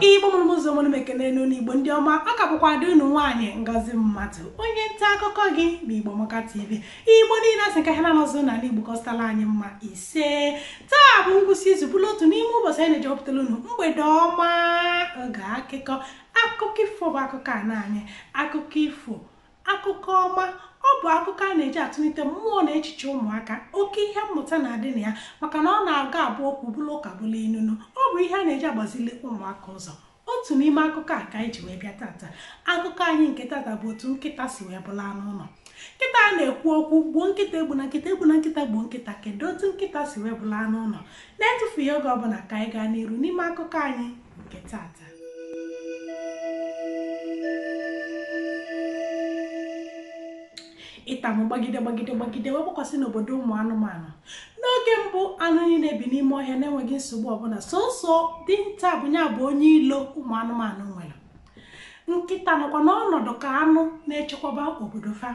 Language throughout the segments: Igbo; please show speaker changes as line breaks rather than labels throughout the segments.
igbo mụrụ m ụzọ mụrụ m ekene m unu igbo ndị ọma ọ ka bụkwa ada unu nwaanyị ngozi mmadụ onye nta akụkọ gị na igbo amaka tv igbo niile asị ka ha na-anọzụ n'ala igbo kọstara anyị mma ise taa bụ ngwụsị izu bụrụ otu n'ime ụbọchị anyị na-eji ewepụtara unu mgbede ọma oge akụkọ akụkọ ifo bụ akụkọ ana anyị akụkọ ifo akụkọ ọma ọ bụ akụkọ a na-eji atụlite mmụọ na echiche ụmụaka oke ihe mmụta na-adị na ya maka na ọ na-aga abụ okwu bụrụ ụka bụrụ inu ọ bụ ihe a na-eji agbazili ụmụaka ụzọ otu n'ime akụkọ a ka anyị ji wee bịa tata akụkọ anyị nke tata bụ otu nkịta si wee bụrụ anụ ụlọ nkịta a na-ekwu okwu gbuo nkịta egbuna nkịta egbuna nkịta gbuo nkịta kedu otu nkịta si wee bụrụ anụ ụlọ na-etufughị oge ọbụla ka anyị gaa n'iru n'ime akụkọ anyị nke tata ita mụ gbagide gbagide gbagide wee gbakwasị n'obodo ụmụ anụmanụ n'oge mbụ anụ niile bi n'ime ọhịa na-enweghị nsogbu ọbụla sọsọ dinta bụ nya bụ onye ilo ụmụ anụmanụ nwere nkịta nọkwa n'ọnọdụ ka anụ na-echekwaba obodo fa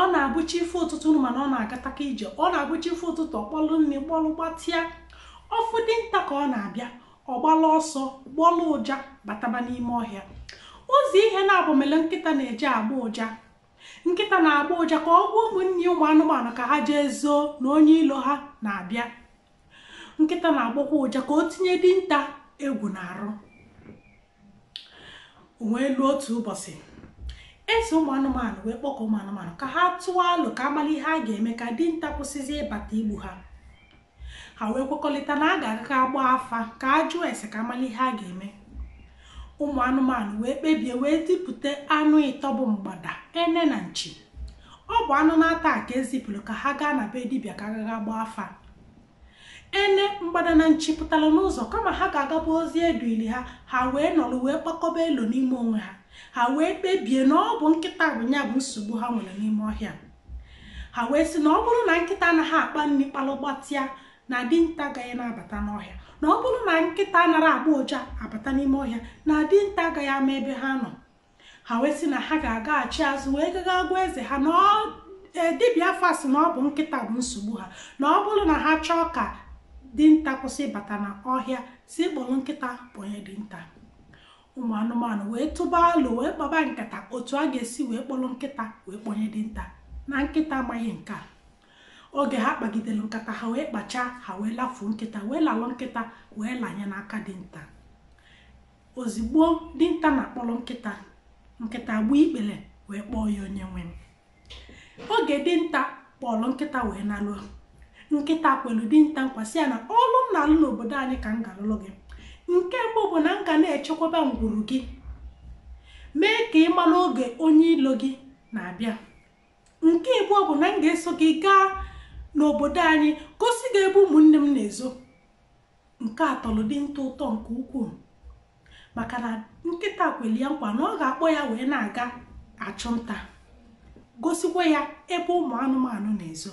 ọ na-abụ chi efo ụtụtụ unu ma na ọ na-agataka ije ọ na-abụ chi efo ụtụtụ ọ kpalụ nri kpalụ gbatịa ọ fụ dinta ka ọ na-abịa ọ gbalụ ọsọ gbọlụ ụja bataba n'ime ọhịa ọ bụzi ihe naabọ mele nkịta na-eji agbọ ụja nkịta na-agbọ ụja ka ọ gwa ụmụnne ụmụ anụmanụ ka ha jee zoo na onye ilo ha na-abịa nkịta na-agbọkwa ụja ka o tinye dinta egwu n'arụ wee luo otu ụbọchị eze ụmụ anụmanụ wee kpọkọ ụmụ anụmanụ ka ha tụọ alo ka a malụ ihe a ga-eme ka dinta kwụsịzi ịbata igbu ha ha wee kwekọrịta na a ga-aga ga gbaa afa ka a jụọ ese ka a malụ ihe a ga-eme ụmụ anụmanụ wee kpebie wee zipụta anụ ịtọ bụ mgbada ene na nchi ọ bụ anụ naatọ a ka e zipụrụ ka ha gaa na be dibịa ka a gaa ga gbaa afa ene mgbada na nchi pụtara n'ụzọ kama ha ga-agaba ozi e duli ha ha wee nọrọ wee kpakọba elo n'ime onwe ha ha wee kpebie na ọ bụ nkịta bụ nya bụ nsogbu ha nwere n'ime ọhịa ha wee sị na ọ bụrụ na nkịta anaghị akpa nri kpalụ gbatịa na dinta agaghị na-abata n'ọhịa na ọ bụrụ na nkịta anarọ agbọ ụja abata n'ime ọhịa na dinta agaghị ama ebe ha nọ ha wee sị na ha ga-agaghachi azụ wee gaga gwa eze ha na e, dibịa afa sị na ọ bụ nkịta bụ nsogbu ha na ọ bụrụ na ha chọọ ka dinta kwụsị ịbata n'ọhịa sị kpọrọ nkịta kpọnye dinta ụmụ anụmanụ wee tụba alo wee kpaba nkata otu a ga-esi wee kpọrọ nkịta wee kpọnye dinta na nkịta amaghị nke a oge ha kpagidere nkata ha wee kpachaa ha wee lafuo nkịta wee lalụ nkịta wee lanye n'aka dinta ozigbo dinta na-akpọlụ nkịta nkịta gbuo ikpele wee kpọọ ya onye nwe m oge dinta kpọrọ nkịta wee nalu nkịta kwelu dinta nkwa sị ya na ọlụ m na-alụ n'obodo anyị ka m ga-alụlụ gị nke mbụ bụ na m ga na-echekwaba ngwuru gị mee ka ị mara oge onye ilo gị na-abịa nke ịbụọ bụ na m ga-eso gị gaa n'obodo anyị gosi gị ebe ụmụnne m na-ezo Nke a tọlụ dinta ụtọ nke ukwuu maka na nkịta kwere ya nkwa na ọ ga-akpọ ya wee na-aga achụ nta gosikwa ya ebe ụmụ anụmanụ na-ezo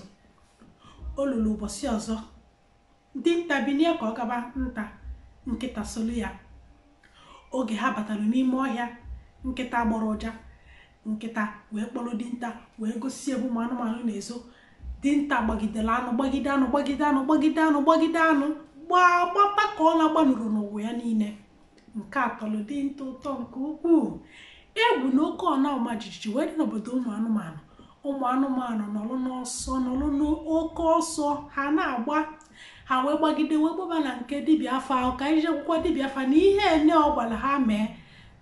o lulu ụbọsị ọzọ dinta binie ka ọ gaba nta nkịta solu ya oge ha batalụ n'ime ọhịa nkịta gbọrọ ụja nkịta wee kpọrọ dinta wee gosi ebe ụmụ anụmanụ na-ezo dinta gbagidere anụ gbagide anụ gbagide anụ gbagide anụ gbagide anụ gbaa gbata ka ọ na-agbanụrọ n'ụwa ya niile nke a tọrọ dinta ụtọ nke ukwuu egwu na oke ọna ọma jijiji wee dị n'obodo ụmụ anụmanụ ụmụ anụmanụ nọrọ n'ọsọ nọrọ n'oke ọsọ ha na-agba ha wee gbagide wee gbaba na nke dibịa afa ahụ ka anyị jekwukwa dibịa afa na ihe nine ọ gwara ha mee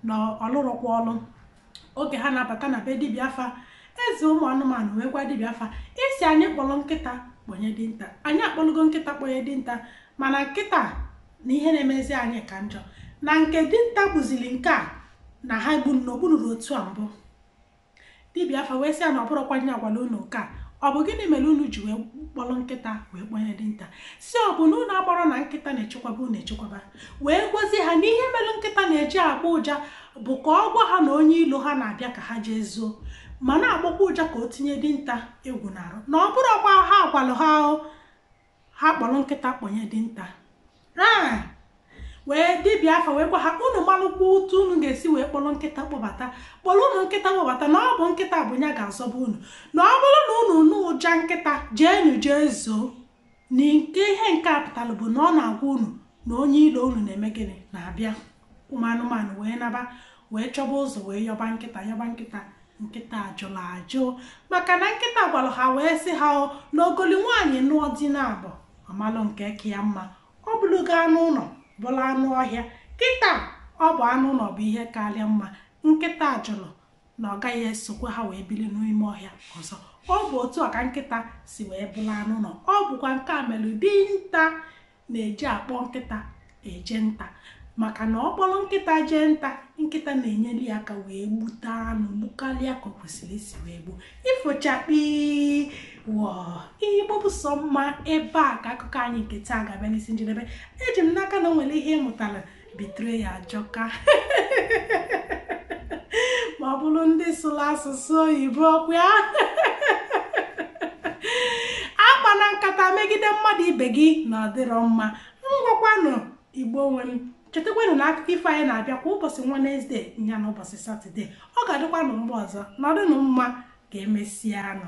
na ọ lụrọkwa ọlụ oge ha na-abata na be dibịa afa eze ụmụ anụmanụ wee gwa dibịa afa ị sị anyị kpọrọ nkịta kpọnye dinta anyị akpọlụgo nkịta kpọnye dinta mana kịta na ihe na-emezi anyị ka njọ na nke dinta gbuzili nke a na ha bụ na o gbunurọ otu a mbụ dibịa afa wee sị ya na ọ bụrọkwa ihe a gwalụ unu nke a ọ bụ gịnị mere unu ji wee kpọrọ nkịta wee kpọnye dinta sị ọ bụ na unu amarọ na nkịta na-echekwaba unu echekwaba wee gwazie ha na ihe melu nkịta na-eji agbọ ụja bụ ka ọ gwa ha na onye ilo ha na-abịa ka ha jee zuo ma na-agbọkwa ụja ka o tinye dinta egwu n'arụ na ọ bụrọkwa ihe a gwalụ ha ahụ ha kpọrọ nkịta kpọnye dinta wee dibịa afa wee gwa ha unu malụkwa otu unu ga-esi wee kpọrọ nkịta kpọbata kpọrọ unu nkịta kpọbata na ọ bụ nkịta bụ ya ga-azọba unu na ọ bụrụ na unu nụ ụja nkịta jeenu jee zoo na nke ihe nke a pụtalụ bụ na ọ na-agwa unu na onye ilo unu na-eme gịnị na-abịa ụmụ anụmanụ wee naba wee chọba ụzọ wee yọba nkịta yọba nkịta nkịta jụlụ ajụ maka na nkịta gwalụ ha wee sị ha o na ogoli nwaanyị nụọ di naabọ ọ malụ nke ka ya mma ọ bụlụgo anụ ụnọ bụlụ anụ ọhịa kịta ọ bụ anụ ụnọ bụ ihe kalị ya mma nkịta jụlụ na ọ gaghị esokwa ha wee bili n'ime ọhịa ọzọ ọ bụ otu a ka nkịta si wee bụlụ anụ ụnọ ọ bụkwa nke a melu dinta na-eji akpọ nkịta eje nta maka na ọ kpọlụ nkịta jee nta nkịta na-enyelụ ya aka wee gbute anụ gbukarịa ka o kwesịrị isi wee gbuo ifo chakpii wọọ igbo bụ sọ mma ebe a ka akụkọ anyị nke taa ga-abịa n'isi njedebe eji m n'aka na o nwere ihe ị mụtalụ betrayal ajọka ma ọ bụlụ ndị sụlụ asụsụ oyibo ọkwa ya akpana nkata megide mmadụ ibe gị na ọ dịrọ mma ngwakwanụ Igbo nwe m chetakwanụ na akụkọ ifo anyị na-abịa kwa ụbọsị Wenesde nya na ụbọsị Satọde ọ ga-adịkwanụ mgbe ọzọ nọdụnụ mma ka emesianụ